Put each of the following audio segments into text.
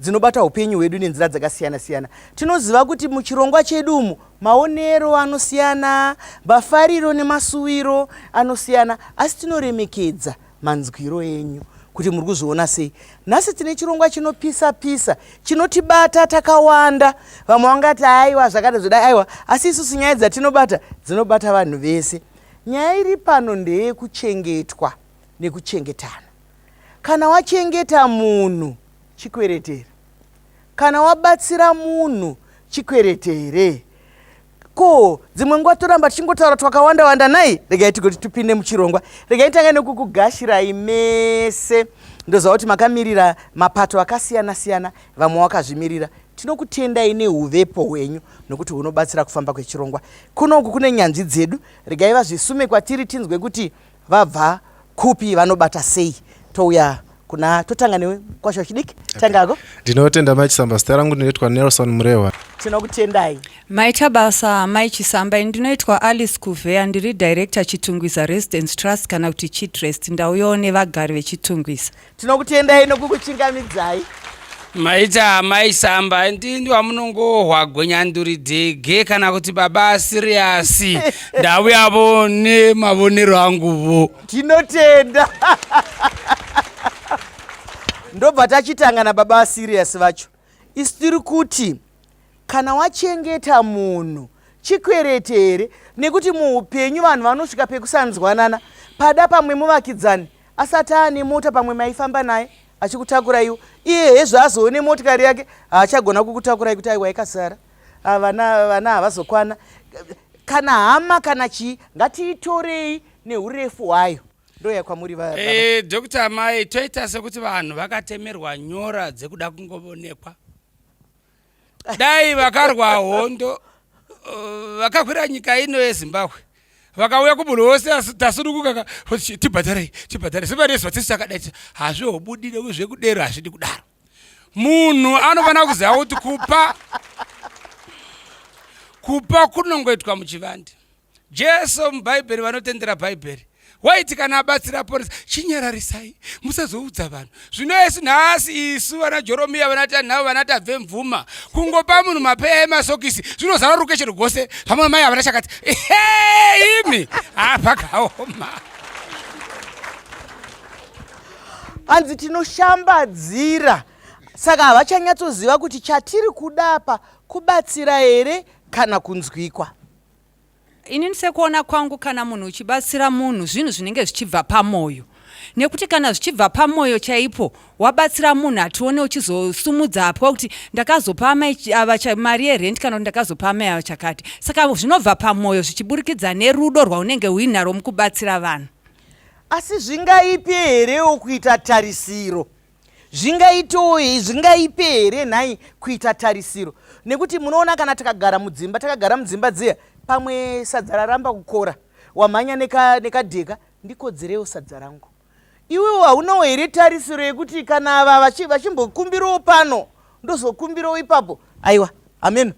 dzinobata upenyu hwedu nenzira dzakasiyana siyana tinoziva kuti muchirongwa chedu umu maonero anosiyana mafariro nemasuwiro anosiyana asi tinoremekedza manzwiro enyu kuti muri kuzviona sei nhasi tine chirongwa chinopisa pisa chinotibata takawanda vamwe vangati aiwa zvakada zvoda aiwa asi isusu nyaya dzatinobata dzinobata vanhu vese nyaya iri pano ndeyekuchengetwa nekuchengetana Kana wachengeta munhu chikwereti here? Kana wabatsira munhu chikwereti here? Ko dzimwe nguva toramba tichingotaura twakawanda wanda nhai? Regai tigoti tupinde muchirongwa. Regai tanga nekukugashirai mese ndoziva kuti makamirira mapato akasiyana siyana vamwe wakazvimirira tinokutendai neuvepo hwenyu nokuti hunobatsira kufamba kwechirongwa kunoku kune nyanzvi dzedu regai vazvisume kwatiri tinzwe kuti vabva kupi vanobata sei touya kuna totanga newe kwasho chidiki tangako okay. ndinotenda mai chisamba zita rangu ndinoitwa nelson murehwa tinokutendai maita basa mai chisamba ini ndinoitwa alice kuvheya ndiri director chitungwiza residence trust kana kuti chitrest ndauyawo nevagari vechitungwiza Tinokutendai nokukuchingamidzai. Maita amai Samba ndini wamunongohwa gwenyanduri dhege kana kuti baba siriyasi ndauyavo nemavonero anguvo. Tinotenda. Ndobva tachitanga nababa siriyasi vacho. Isu tiri kuti Kana wachengeta munhu chikwereti here nekuti muupenyu vanhu vanosvika pekusanzwanana pada pamwe muvakidzani asati aane mota pamwe maifamba naye achikutakurayiwo iye hezvo azoone motikari yake haachagona kukutakurai kuti aiwa ikasara ah, vana vana havazokwana kana hama kana chii ngatiitorei neurefu hwayo ndoya kwamuri va e, eh, dr mai toita sekuti vanhu vakatemerwa nyora dzekuda kungovonekwa dai vakarwa hondo uh, vakakwira nyika ino yezimbabwe vakauya kumunhu wose tasurukuka tibhadharei tibhadharei sevaresu vatisi takadaita hazvihobudire uye zvekudero hazvidi kudaro munhu anofanira kuziva kuti kupa kupa kunongoitwa muchivande Jesu muBhaibheri vanotendera Bhaibheri waiti kana abatsira aponesa chinyararisai musazoudza vanhu zvino yesu nhasi isu vana joromiya vana tanhau vana tabve mvuma kungopa munhu mapeya emasokisi zvinozara ruke chero gose pamwe mai havana chakati imi hapakaoma ah, hanzi tinoshambadzira saka havachanyatsoziva kuti chatiri kudapa kubatsira here kana kunzwikwa Inini sekuona kwangu kana munhu uchibatsira munhu zvinhu zvinenge zvichibva pamoyo nekuti kana zvichibva pamoyo chaipo wabatsira munhu hatione uchizosumudza apwa kuti ndakazopa amai ava mari yerent kana kuti ndakazopa amai ava chakati saka zvinobva pamoyo zvichiburikidza nerudo rwaunenge uinaro mukubatsira vanhu asi zvingaipe herewo kuita tarisiro zvingaitewo zvingaipe here nhai kuita tarisiro nekuti munoona kana takagara mudzimba takagara mudzimba dziya pamwe sadza raramba kukora wamhanya nekadheka ndikodzerewo sadza rangu iwewo haunawo here tarisiro yekuti kana ava vachimbokumbirawo pano ndozokumbirawo ipapo aiwa ameno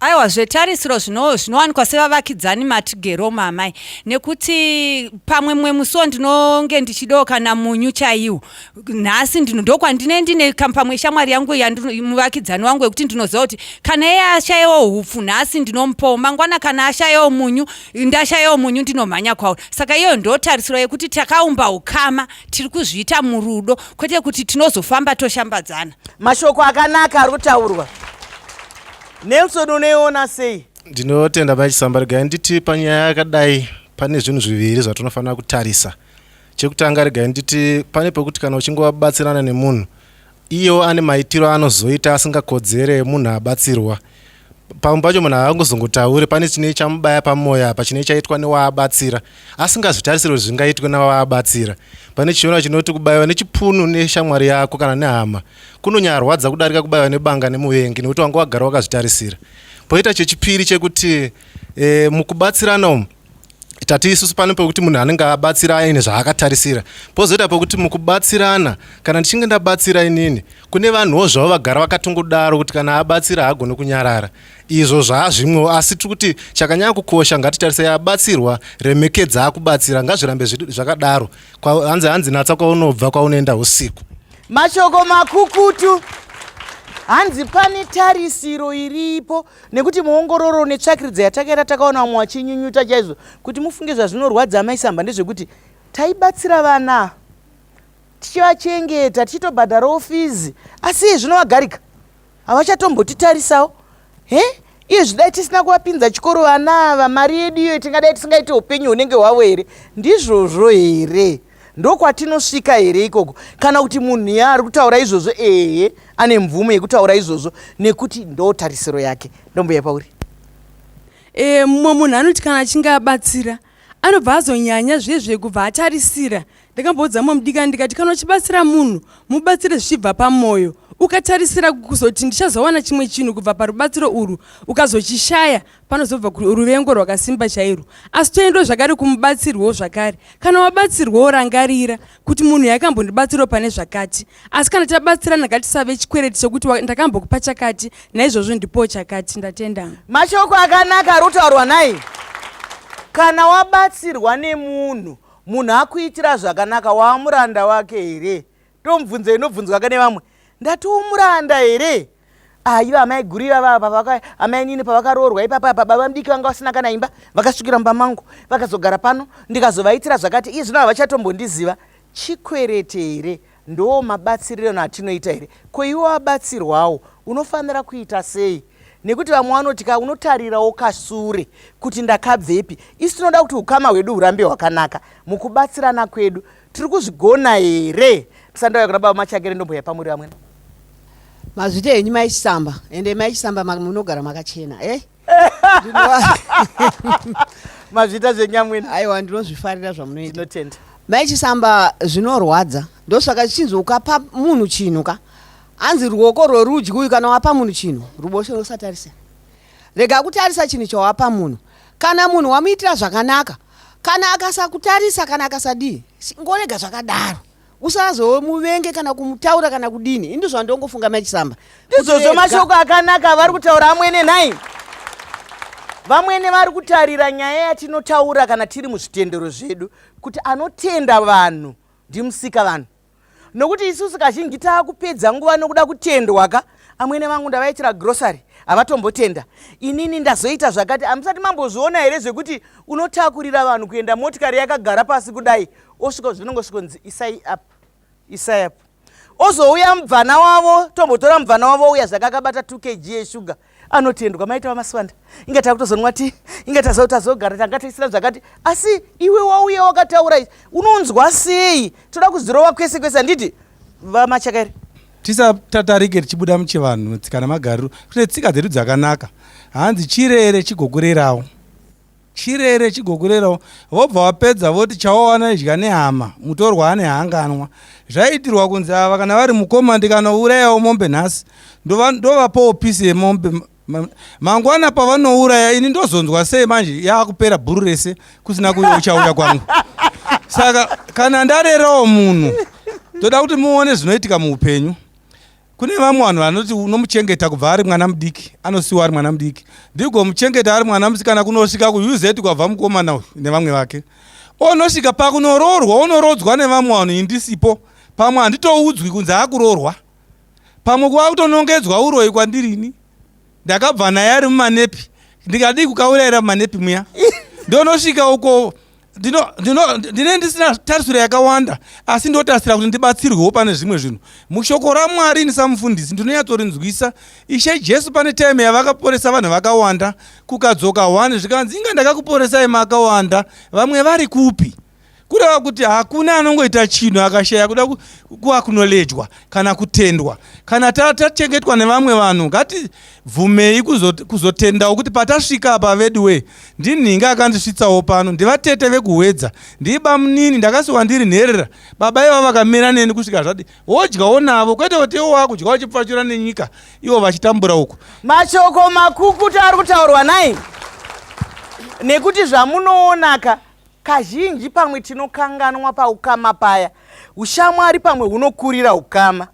aiwa zvetarisiro zvinowanikwa sevavakidzani matigero mamai nekuti pamwe mumwe musiwo ndinonge ndichidawo kana munyu chaiwo nhasi ndokwandine ndine pamwe shamwari yangu muvakidzani wangu wekuti ndinoziva kuti kana iye ashayewo upfu nhasi ndinomupawo mangwana kana ashayewo munyu ndashayewo munyu ndinomhanya kwauri saka iyoyo ndotarisiro yekuti takaumba ukama tiri kuzviita murudo kwete kuti tinozofamba toshambadzana mashoko akanaka ari kutaurwa nelson unoiona sei ndinotenda mai chisamba regai nditi panyaya yakadai pane zvinhu zviviri zvatinofanira kutarisa chekutanga regai nditi pane pekuti kana uchingobatsirana nemunhu Iyewo ane maitiro aanozoita asingakodzere munhu abatsirwa. Pamwe pacho munhu haangozongotaure pane chinei chamubaya pamoyo apa chinei chaitwa newaabatsira asingazvitarisire kuti zvingaitwe navaabatsira. Pane chiona chinoti kubaiwa nechipunu neshamwari yako kana nehama kunonyarwadza kudarika kubaiwa nebanga nemuvengi nekuti wanga wagara wakazvitarisira. Poita chechipiri chekuti e, mukubatsirana umu tati isusu pane pekuti munhu anenge abatsira aine zvaakatarisira pozoita pekuti mukubatsirana kana ndichinge ndabatsira inini kune vanhuwo zvavo vagara vakatongodaro kuti kana abatsira haagone kunyarara izvo zvaazvimwewo asi tiri kuti chakanyanya kukosha ngatitarisai abatsirwa remekedza akubatsira ngazvirambe zvakadaro hanzi hanzi natsa kwaunobva kwaunoenda usiku mashoko makukutu hanzi pane tarisiro iripo nekuti muongororo netsvakiridza yatakaita takaona vamwe vachinyunyuta chaizvo kuti mufunge zvazvinorwadza amai samba ndezvekuti taibatsira vana tichivachengeta tichitobhadharawo fizi asi iye zvino vagarika havachatombotitarisawo he iye zvidai tisina kuvapinza chikoro vana ava mari yedu iyoyo tingadai tisingaite upenyu hunenge hwavo here ndizvozvo here ndokwatinosvika here ikoko kana kuti munhu ya ari kutaura izvozvo ehe ane mvumo yekutaura izvozvo nekuti ndotarisiro yake ndombuya pauri e, mumwe munhu anoti kana achinge abatsira anobva azonyanya zviye zvekubva atarisira ndakamboudza mumwe mudikani ndikati kana uchibatsira munhu mubatsire zvichibva pamwoyo ukatarisira kuzoti ndichazowana chimwe chinhu kubva parubatsiro urwu ukazochishaya panozobva ruvengo rwakasimba chairwo asi toendwa zvakare kumubatsirwawo zvakare kana wabatsirwawo rangarira kuti munhu yakambondibatsirawo pane zvakati asi kana tabatsirana ngatisave chikwereti chekuti ndakambokupa chakati naizvozvo ndipowo chakati ndatenda mashoko akanaka ari kutaurwa nai kana wabatsirwa nemunhu munhu akuitira zvakanaka waamuranda wake here ndomubvunzo inobvunzwaka nevamwe ndati umuranda here aiva ah, amai guru ivava amai nini pavakaroorwa ipapa apa baba mudiki vanga vasina kana imba vakasvikira mumba mangu vakazogara pano ndikazovaitira zvakati iye zvino havachatombondiziva chikwerete here ndoo mabatsirirano atinoita here ko iwe wabatsirwawo unofanira kuita sei nekuti vamwe vanoti ka unotarirawo kasure kuti ndakabvepi isu tinoda kuti ukama hwedu hurambe hwakanaka mukubatsirana kwedu tiri kuzvigona here tisandauya kuna baba machakere ndombo yapamuri vamwene mazvita henyu mai chisamba ende mai chisamba munogara makachena e eh? mazvita zvenyamwene aiwa ndinozvifarira zvamunoitinotenda mai chisamba zvinorwadza ndosaka zvichinzi ukapa munhu chinhu ka hanzi ruoko rworudyi uyu kana wapa munhu chinhu ruboshe rusatarisa rega kutarisa chinhu chawapa munhu kana munhu wamuitira zvakanaka kana akasakutarisa kana akasadii ngorega zvakadaro usazomuvenge kana kumutaura kana kudini ini zvandongofunga mai chisamba izvozvo mashoko akanaka vari kutaura amwene nhai vamwene vari kutarira nyaya yatinotaura kana tiri muzvitendero zvedu kuti anotenda vanhu ndimusika vanhu nokuti isusu kazhinji taakupedza nguva nokuda kutendwa ka amwene vangu ndavaitira grocery havatombotenda inini ndazoita zvakati hamusati mambozviona here zvekuti unotakurira vanhu kuenda motikari yakagara pasi kudai osvika zvinongosvikonzi isai up isai up ozouya mubvana wavo tombotora mubvana wavo uya zvakakabata 2 kg yeshuga anotendwa maita vamaswanda inga takutozonwa ti inga tazoti tazogara tanga taisira zvakati asi iwe wauya wakataura izvi unonzwa sei toda kuzirova kwese kwese handiti vamachakairi tisatatarike tichibuda muchivanhu tsika namagariro kune tsika dzedu dzakanaka hanzi chirere chigokurerawo chirere chigokurerawo vobva vapedza voti chawawana idya nehama mutorwa ane hanganwa zvaiitirwa kunzi ava kana vari mukoma ndikanourayawo mombe nhasi ndovapawo pisi yemombe mangwana pavanouraya ini ndozonzwa sei manje yaakupera bhuru rese kusina kuyo uchauya kwangu saka kana ndarerawo munhu toda kuti muone zvinoitika muupenyu Kune vamwe vanhu vanoti unomuchengeta kubva ari mwana mudiki, anosiwa ari mwana mudiki. Ndigomuchengeta ari mwana musikana kunosvika kuUZ kwabva mukomana uyu nevamwe vake. Onosvika pakunoroorwa, onorodzwa nevamwe vanhu indisipo. Pamwe handitoudzwi kunzi akuroorwa. Pamwe kuva kutonongedzwa uroyi kwandirini. Ndakabva naye ari mumanepi. Ndikadii kukaurayira mumanepi muya. Ndonosvika uko ndine ndisina tarisiro yakawanda asi ndotarisira kuti ndibatsirwewo pane zvimwe zvinhu mushoko ramwari ini samufundisi ndinonyatsorinzwisa ishe jesu pane time yavakaporesa vanhu vakawanda kukadzoka one zvikanzi inga ndakakuporesai makawanda vamwe vari kupi kureva kuti hakuna anongoita chinhu akashaya kuda kuakunolejwa kana kutendwa kana tachengetwa nevamwe vanhu ngati Bvumei kuzot, kuzotendawo kuti patasvika apa veduwee ndinhingi akandisvitsawo pano ndivatete vekuhwedza ndii bamunini ndakasiwa ndiri nherera baba iva vakamira neni kusvika zvadi wodyawo navo kwete kuti iwo wakudya uchipfachura nenyika ivo vachitambura uku mashoko makukutu ari kutaurwa nai nekuti zvamunoonaka kazhinji pamwe tinokanganwa paukama paya ushamwari pamwe hunokurira ukama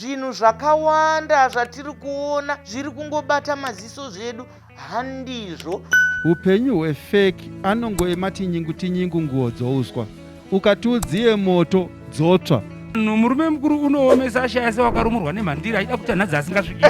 zvinhu zvakawanda zvatiri kuona zviri kungobata maziso zvedu handizvo upenyu hwefeki anongoema tinyingu tinyingu nguo dzouswa ukati udziye moto dzotsva no murume mukuru unoomesa ashaya se wakarumurwa nemhandira aida kuti anhadzi asingasviki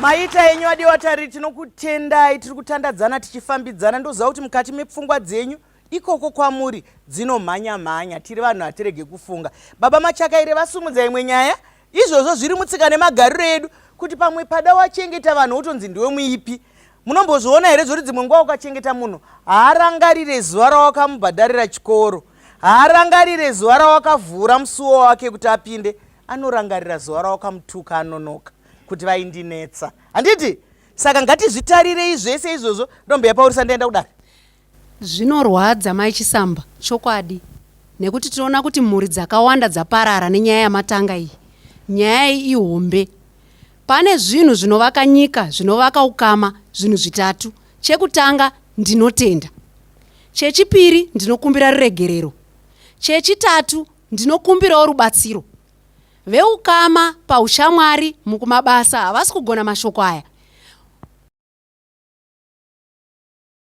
maita enyu adiwa tari tinokutendai tiri kutandadzana tichifambidzana ndoziva kuti mukati mepfungwa dzenyu ikoko kwamuri dzinomhanya mhanya tiri vanhu hatirege kufunga baba machakaire vasumudza imwe nyaya izvozvo zviri mutsika nemagariro edu kuti pamwe pada wachengeta vanhu wotonzi ndiwe muipi munombozviona here zvoti dzimwe nguva ukachengeta munhu haarangarire zuva rawakamubhadharira chikoro haarangarire zuva rawakavhura musuwo wake kuti apinde anorangarira zuva rawakamutuka anonoka kuti vaindinetsa handiti saka ngatizvitarirei zvese izvozvo ndombo yapaurisa ndaenda kudari Zvinorwadza mai Chisamba chokwadi nekuti tinoona kuti mhuri dzakawanda dzaparara nenyaya yamatanga iyi. Nyaya iyi ihombe. Pane zvinhu zvinovaka nyika, zvinovaka ukama, zvinhu zvitatu. Chekutanga ndinotenda. Chechipiri ndinokumbira ruregerero. Chechitatu ndinokumbirawo rubatsiro. Veukama paushamwari mukumabasa havasi kugona mashoko aya.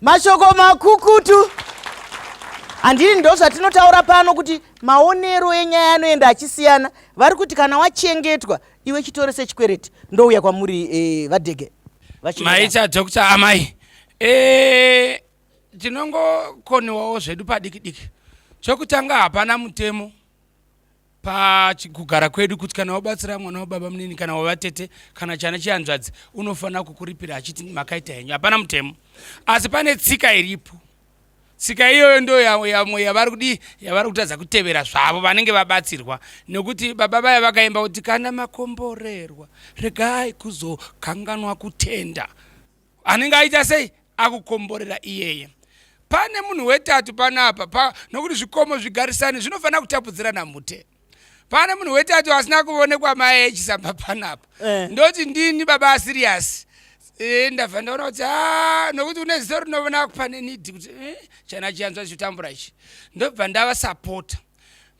mashoko makukutu handini ndo zvatinotaura pano kuti maonero enyaya anoenda achisiyana vari kuti kana wachengetwa iwe chitore sechikwereti ndouya kwamuri eh, vadege maicha doctor amai eh, tinongokoniwawo zvedu padikidiki chokutanga hapana mutemo pachikugara kwedu kuti kana wabatsira mwana wababa munini kana wavatete kana chana chihanzvadzi unofanira kukuripira achiti makaita henyu hapana mutemo asi pane tsika iripo tsika iyoyo ndo yamwe yavari kudii yavari kutadza kutevera zvavo vanenge vabatsirwa nekuti baba vaya vakaimba kuti kana makomborerwa regai kuzokanganwa kutenda anenge aita sei akukomborera iyeye pane munhu wetatu panapa pa, nokuti zvikomo zvigarisani zvinofanira kutapudzirana mhute pane munhu wetatu asina kuonekwa mai echisamba panapa eh. ndoti ndini baba asiriyasi eh, ndabva ndaona kuti ah, nokuti une ziso rinovona pane nidi kuti eh, chana chiyanzwa chichitambura ichi ndobva ndavasapota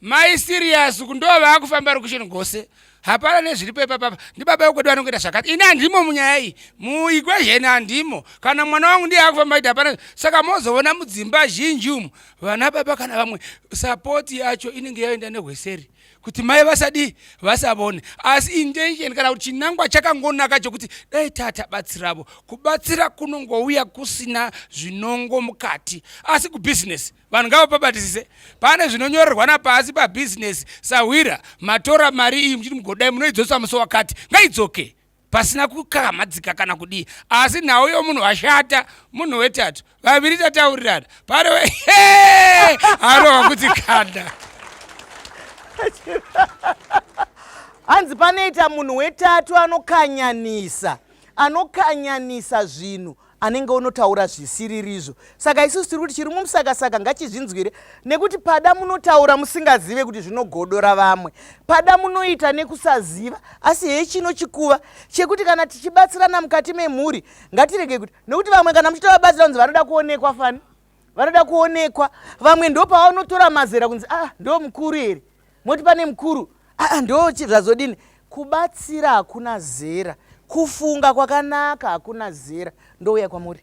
Mai serious uku ndo vakufamba location gose. Hapana nezviripo ipapa ndi baba wekwedu anongoita zvakati. Ini andimo munyaya iyi. Mu equation andimo. Kana mwana wangu ndiye akufamba ita hapana. Saka mozoona mudzimba zhinji umu vana baba kana vamwe support yacho inenge yaenda nehweseri kuti mai vasadi vasavone asi intention kana kuti chinangwa chakangonaka chokuti dai tata batsiravo kubatsira kunongouya kusina zvinongo mukati asi kubusiness vanhu ngavapabatisise pane zvinonyorerwa napasi pabhizinesi sahwira matora mari iyi muchiti mugodai munoidzosa musi wakati ngaidzoke pasina kukamhadzika kana kudii asi nhau yomunhu ashata munhu wetatu vaviri tataurirana pane anowa kuti kanda hanzi panoita munhu wetatu anokanyanisa anokanyanisa zvinhu anenge unotaura zvisiririzvo saka isusu tiri kuti chiri mumusakasaka ngachizvinzwire nekuti pada munotaura musingazive kuti zvinogodora vamwe pada munoita nekusaziva asi hee chino chikuva chekuti kana tichibatsirana mukati memhuri ngatirege kuti nekuti vamwe kana muchitovabatsira kunzi vanoda kuonekwa fani vanoda kuonekwa vamwe ndopavanotora mazera kunzi ah ndo mukuru here moti pane mukuru aa ah, ndo zvazodini kubatsira hakuna zera kufunga kwakanaka hakuna zera ndouya kwamuri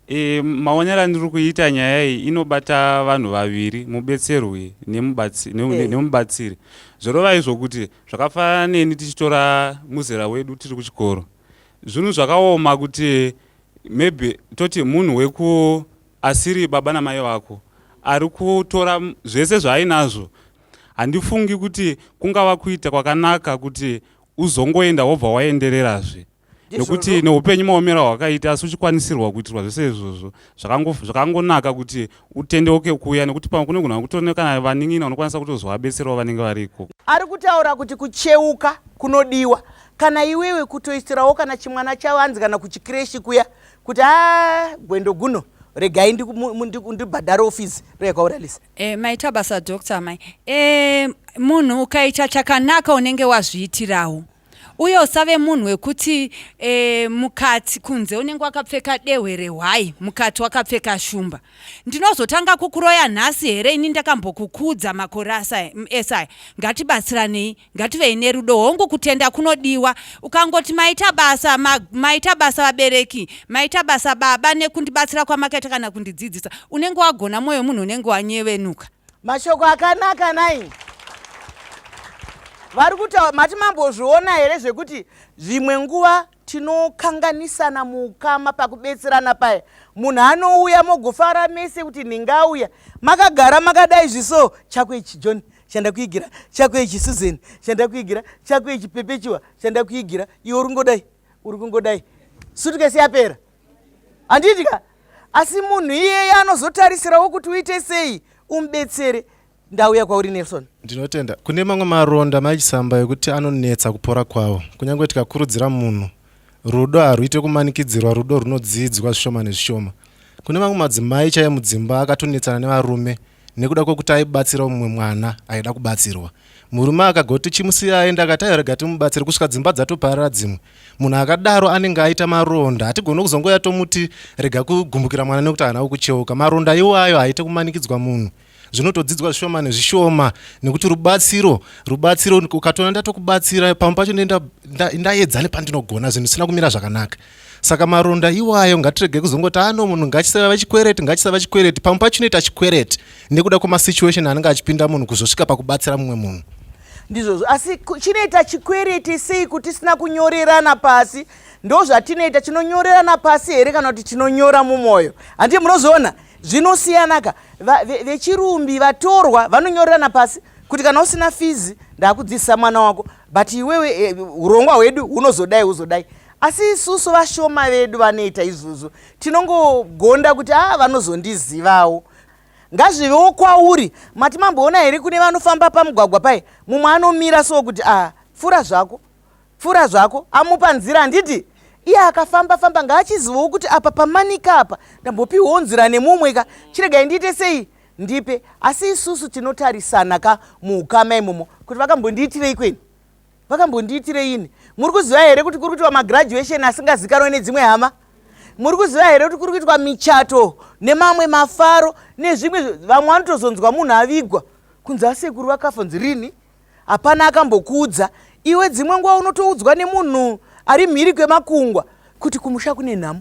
e, maonero andiri kuita nyaya iyi inobata vanhu vaviri mubetserwi eh. nemubatsiri e. zvorova izvo kuti zvakafanira neni tichitora muzera wedu tiri kuchikoro zvinhu zvakaoma kuti maybe toti munhu weku asiri baba namai vako ari kutora zvese zvaainazvo handifungi kuti kungava kuita kwakanaka kuti uzongoenda wobva waendererazve nekuti neupenyu maomera hwakaita asi uchikwanisirwa kuitirwa zvese izvozvo zvakangonaka kuti utendeuke kuuya nekuti pamwe kune kunhu akutorine kana vanin'ina unokwanisa kutozovabetserawo vanenge variko ari kutaura kuti kucheuka kunodiwa kana iwewe kutoisirawo kana chimwana chavanzi kana kuchikireshi kuya kuti a ah, gwendo guno regai ndibhadhare ofisi reyakauralisa e, eh, maita basa doctor mai e, munhu ukaita chakanaka unenge wazviitirawo uye usave munhu wekuti e, mukati kunze unenge wakapfeka dehwe rehwai mukati wakapfeka shumba ndinozotanga kukuroya nhasi here ini ndakambokukudza makore esaya ngatibatsiranei ngativei nerudo hongu kutenda kunodiwa ukangoti maita basa ma, maita basa vabereki maita basa baba nekundibatsira kwamakaita kana kundidzidzisa unenge wagona mwoyo munhu unenge wanyevenuka mashoko akanaka nai vari kutaura mati mambozviona here zvekuti zvimwe nguva tinokanganisana muukama pakubetserana paya munhu anouya mogofara mese kuti ndingauya makagara makadai zviso chako ichi john chanda kuigira chako ichi susan chanda kuigira chako ichi pepechiwa chanda kuigira iwe uri kungodai uri kungodai sutukesi yapera handiti ka asi munhu iyeye anozotarisirawo kuti uite sei umubetsere ndauya kwauri nelson ndinotenda kune mamwe maronda maichisamba ekuti anonetsa kupora kwawo kunyange tikakurudzira munhu rudo harwuite kumanikidzirwa rudo runodziidzwa zvishoma nezvishoma kune mamwe madzimai chaiye mudzimba akatonetsana nevarume nekuda kwekuti aibatsirawo mumwe mwana aida kubatsirwa murume akagoti chimusiya aenda akati ayorega timubatsire kusvika dzimba dzatoparara dzimwe munhu akadaro anenge aita maronda hatigoni kuzongoya tomuti rega kugumbukira mwana nekuti haana kukucheuka maronda iwayo haite kumanikidzwa munhu zvinotodzidzwa zvishoma nezvishoma nekuti rubatsiro rubatsiro ukatoona ndatokubatsira pamwe pacho ndaedza nepandinogona zvinhu zvisina kumira zvakanaka saka maronda iwayo ngatirege kuzongoti ano ah, munhu ngachisava chikwereti ngachisava chikwereti pamwe pacho inoita chikwereti nekuda kwemasituation anenge achipinda munhu kuzosvika pakubatsira mumwe munhu ndizvozvo asi chinoita chikwereti sei kuti tisina kunyorerana pasi ndo zvatinoita tinonyorerana pasi here kana kuti tinonyora mumwoyo handii munozoona zvinosiyanaka vechirumbi ve, ve vatorwa vanonyorerana pasi kuti kana usina fizi ndakudzidzisa mwana wako but iwewe eh, urongwa hwedu hunozodai huzodai asi isusu vashoma vedu vanoita izvozvo tinongogonda kuti a ah, vanozondizivawo ngazvivewo kwauri mati mamboona here kune vanofamba pamugwagwa pai mumwe anomira so kuti a ah, pfura zvako pfura zvako amupa nzira handiti iye akafamba famba ngaachizivawo kuti apa pamanika apa ndambopiwawo nzira nemumwe ka chiregai ndiite sei ndipe asi isusu tinotarisana ka muukama imomo kuti vakambondiitirei kweni vakambondiitirei ini muri kuziva here kuti kuri kuitwa magraduation asingazikanwe nedzimwe hama muri kuziva here kuti kuri kuitwa michato nemamwe mafaro nezvimwe vamwe vanotozonzwa munhu avigwa kunzi asekuru vakafa nzi rini hapana akambokuudza iwe dzimwe nguva unotoudzwa nemunhu ari mhiri kwemakungwa kuti kumusha kune nhamo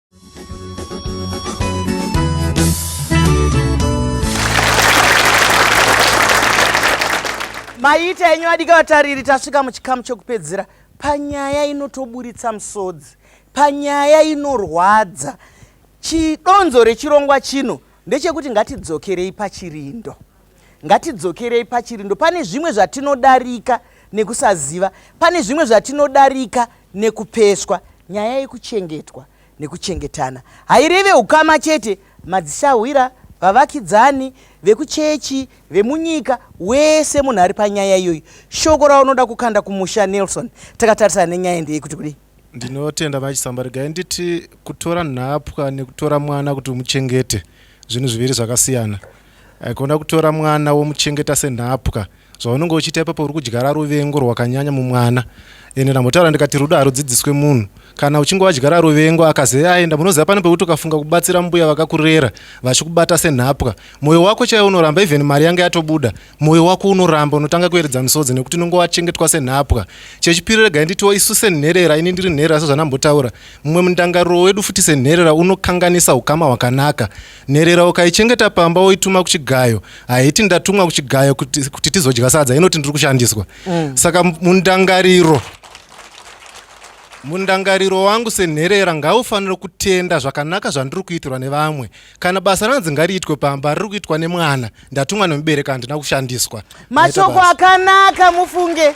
maita enyu adika vatariri tasvika muchikamu chokupedzera panyaya inotoburitsa musodzi panyaya inorwadza chidonzo rechirongwa chino ndechekuti ngatidzokerei pachirindo ngatidzokerei pachirindo pane zvimwe zvatinodarika nekusaziva pane zvimwe zvatinodarika nekupeswa. Nyaya yekuchengetwa nekuchengetana haireve ukama chete. Madzisahwira, vavakidzani, vekuchechi, vemunyika, wese munhu ari panyaya iyoyi. Shoko raunoda kukanda kumusha Nelson, takatarisana nenyaya ndeye kuti kudii? Ndinotenda vachisamba regai nditi kutora nhapwa nekutora mwana kuti umuchengete zvinhu zviviri zvakasiyana. Haikona kutora mwana womuchengeta senhapwa. Zvaunenge uchiita ipapo uri kudyara ruvengo rwakanyanya mumwana. Ende ndambotaura ndikati rudo harudzidziswe munhu. Kana uchinge wadyara ruvengo akazi aenda munoziva pane pekuti ukafunga kubatsira mbuya vakakurera vachikubata senhapwa. Moyo wako chaiwo unoramba even mari yange yatobuda. Moyo wako unoramba unotanga kuyeredza misodzi nekuti unenge wachengetwa senhapwa. Chechipiri regai nditiwo isu senherera ini ndiri nherera sezvandambotaura. Mumwe mundangariro wedu futi senherera unokanganisa hukama hwakanaka. Nherera ukaichengeta pamba woituma kuchigayo haiti ndatumwa kuchigayo kuti, kuti tizodya sadza inoti ndiri kushandiswa mm. saka mundangariro mundangariro wangu senherera ngaufanire kutenda zvakanaka zvandiri kuitirwa nevamwe kana basa ranzi ngariitwe pamba riri kuitwa nemwana ndatumwa nemubereka handina kushandiswa mashoko akanaka mufunge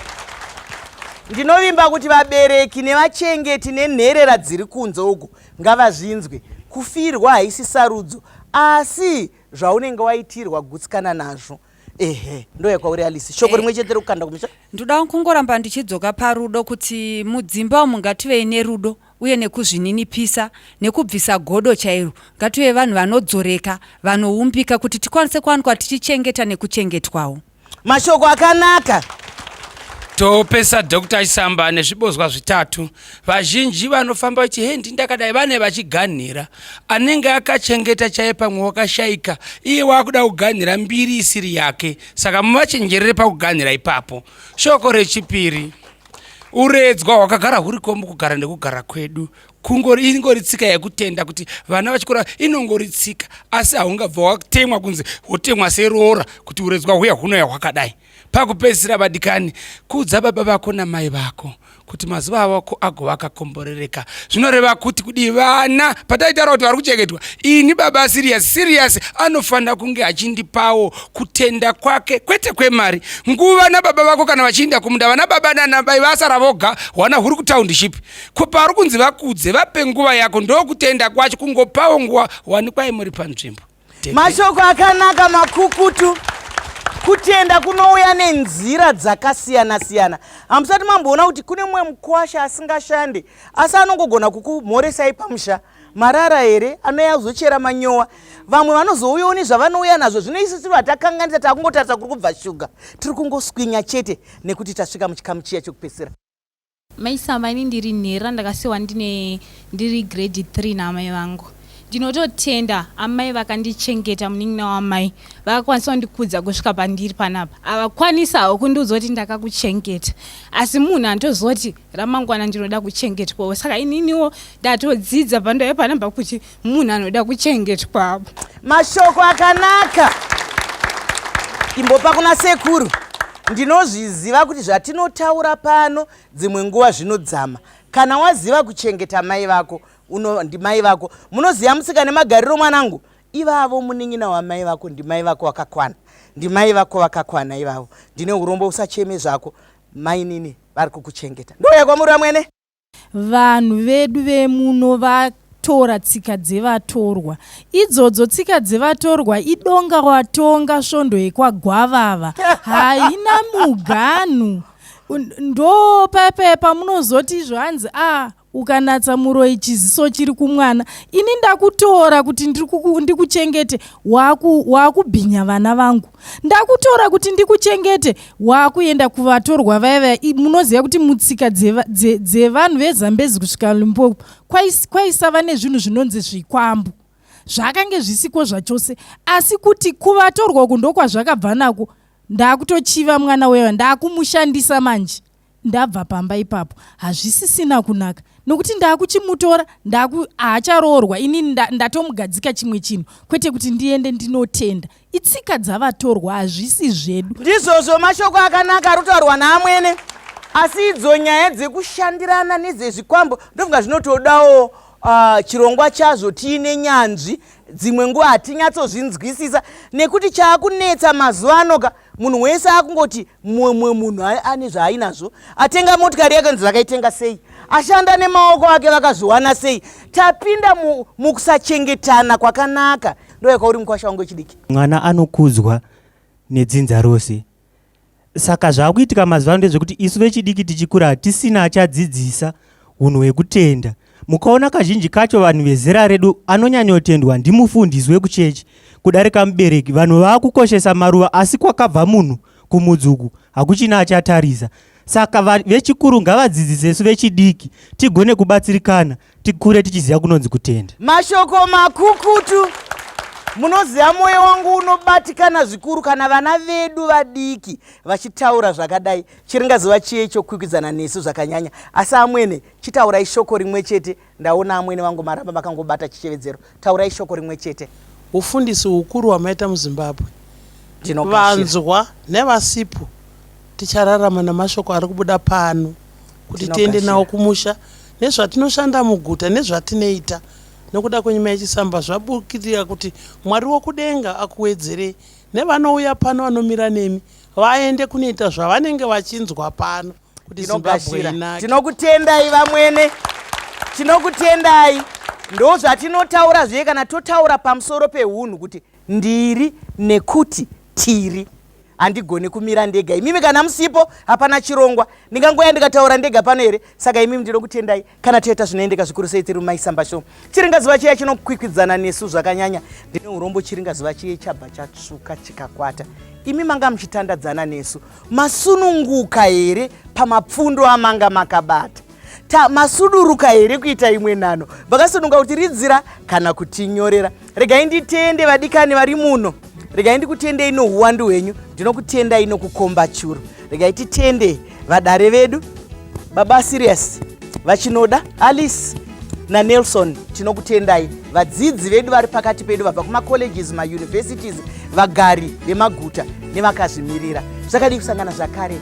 ndinovimba kuti vabereki nevachengeti nenherera dziri kunze uku Ngavazvinzwe. Kufirwa haisi sarudzo asi zvaunenge waitirwa gutsikana nazvo. Ehe, ndouya kwauri Alice. Shoko Eh. rimwe chete rekukanda kumusha. ndoda kungoramba ndichidzoka parudo kuti mudzimba umu ngativei nerudo uye nekuzvininipisa nekubvisa godo chairo ngative vanhu vanodzoreka vanoumbika kuti tikwanise kuwanikwa tichichengeta nekuchengetwawo mashoko akanaka topesa dr isamba nezvibozwa zvitatu vazhinji vanofamba vachi hendi ndakadai vane vachiganhira anenge akachengeta chaye pamwe wakashaika iye waakuda kuganhira mbiri isiri yake saka muvachenjerere pakuganhira ipapo shoko rechipiri uredzwa hwakagara huriko mukugara nekugara kwedu kungori ingori tsika yekutenda kuti vana vachikura inongori tsika asi haungabva watemwa kunzi wotemwa seroora kuti uredzwa huya hunouya hwakadai pakupedzisira vadikani kuudza baba vako namai vako kuti mazuva avako agova akakomborereka zvinoreva kuti kudii vana pataitaura kuti vari kuchengetwa ini baba sirius sirius anofanira kunge achindipawo kutenda kwake kwete kwemari nguva nababa vako kana vachiinda kumunda vana baba nanabai vasara voga hwana huri kutownship ko pauri kunzi vakudze vape nguva yako ndokutenda kwacho kungopawo nguva wanikwai muri panzvimbo mashoko akanaka makukutu kutenda kunouya nenzira dzakasiyana siyana hamusati mamboona kuti kune mumwe mukwasha asingashande asi anongogona kukumhoresai pamusha marara here anouya kuzochera manyowa vamwe vanozouyawo nezvavanouya nazvo zvino isu tiri vatakanganisa takungotarisa kuri kubva shuga tiri kungoswinya chete nekuti tasvika muchikamu chiya chekupedzisira Mai Samba ini ndiri nhera ndakasiwa ndine ndiri grade 3 naamai vangu. Ndinototenda amai vakandichengeta munin'ina wamai vakakwanisa kundikudza kusvika pandiri panapa. Havakwanisa hawo kundiudza kuti ndakakuchengeta asi munhu anotozoti ramangwana ndinoda kuchengetwawo saka ininiwo ndatodzidza pandave panapa kuti munhu anoda kuchengetwa mashoko akanaka imbopa kuna sekuru ndinozviziva kuti zvatinotaura pano dzimwe nguva zvinodzama kana waziva kuchengeta mai vako uno ndimai vako munoziva musika nemagariro mwanangu ivavo munin'ina wamai vako ndimai vako vakakwana ndimai vako vakakwana ivavo ndine urombo usacheme zvako mainini vari kukuchengeta ndoya kwamuri vamwene Vanhu vedu vemuno vatora tsika dzevatorwa. Idzodzo tsika dzevatorwa idonga watonga svondo yekwagwavava. Haina muganhu. Ndo payapaya pamunozoti izvo hanzi a ah, ukanatsa muroyi chiziso chiri kumwana ini ndakutora kuti ndikuchengete wakubhinya vana vangu ndakutora kuti ndikuchengete waakuenda kuvatorwa vaya vaya munoziva kuti mutsika dzevanhu vezambezi kusvika limpopo kwaisava nezvinhu zvinonzi zvikwambo zvakange zvisiko zvachose asi kuti kuvatorwa uku ndokwazvakabva nako ndakutochiva mwana wewa ndakumushandisa manje ndabva pamba ipapo hazvisisina kunaka nokuti ndaakuchimutora ndaku haacharoorwa ini ndatomugadzika nda chimwe chinhu kwete kuti ndiende ndinotenda itsika dzavatorwa hazvisi zvedu ndizvozvo mashoko akanaka ari kutaurwa naamwene asi idzo nyaya dzekushandirana nedzezvikwambo ndofunga zvinotodawo uh, chirongwa chazvo tiine nyanzvi dzimwe nguva hatinyatsozvinzwisisa nekuti chaakunetsa mazuva anoka munhu wese akungoti mumwe munhu ane zvaainazvo atenga motikari yakanzi vakaitenga sei ashanda nemaoko ake vakazviwana sei tapinda mukusachengetana mu kwakanaka ndoyakauri mukwasha wangu wechidiki mwana anokudzwa nedzinza rose saka zvaakuitika mazuva ano ndezvekuti isu vechidiki tichikura hatisina achadzidzisa Hunhu hwekutenda. Mukaona kazhinji kacho vanhu vezera redu anonyanyotendwa ndimufundisi wekuchechi kudarika mubereki. Vanhu vakukoshesa maruva asi kwakabva munhu kumudzuku hakuchina achatarisa. Saka va- vechikuru ngavadzidzisesu vechidiki tigone kubatsirikana tikure tichiziva kunonzi kutenda. Mashoko makukutu. Munoziva mwoyo wangu unobatikana zvikuru kana vana vedu vadiki vachitaura zvakadai. Chiringazuva chiye icho kukwikwidzana nesu zvakanyanya. Asi amwene, chitaurai shoko rimwe chete. Ndaona amwene vangu maramba makangobata chichevedzero. Taurai shoko rimwe chete. Hufundisi hukuru hwamaita muZimbabwe. Ndinogashira. Vanzwa nevasipo tichararama namashoko ari kubuda pano kuti tiende Ndinogashira. nawo kumusha nezvatinoshanda muguta nezvatinoita nokuda kwenyuma yechisamba zvabukirira kuti Mwari wokudenga akuwedzerei nevanouya pano vanomira nemi vaende kunoita zvavanenge vachinzwa pano kuti zimbabwe inake tinokutendai vamwene tinokutendai ndo zvatinotaura zviye kana totaura pamusoro peunhu kuti ndiri nekuti tiri handigoni kumira ndega imimi kana musipo hapana chirongwa ndingangoya ndikataura ndega pano here saka imimi ndinokutendai kana toita zvinoendeka zvikuru sei tiri mumaisamba show chiringazuva chiya chinokwikwidzana nesu zvakanyanya ndine urombo chiringazuva chiye chabva chatsvuka chikakwata imi manga muchitandadzana nesu masununguka here pamapfundo amanga makabata ta masuduruka here kuita imwe nhano vakasununga kuti ridzira kana kutinyorera regai nditende vadikani vari muno regai ndikutendei nouwandu hwenyu ndinokutendai nokukomba churu regai titende vadare vedu baba sirius vachinoda alice nanelson tinokutendai vadzidzi vedu vari pakati pedu vabva kumacolleges mauniversities vagari vemaguta nevakazvimirira zvakadii kusangana zvakare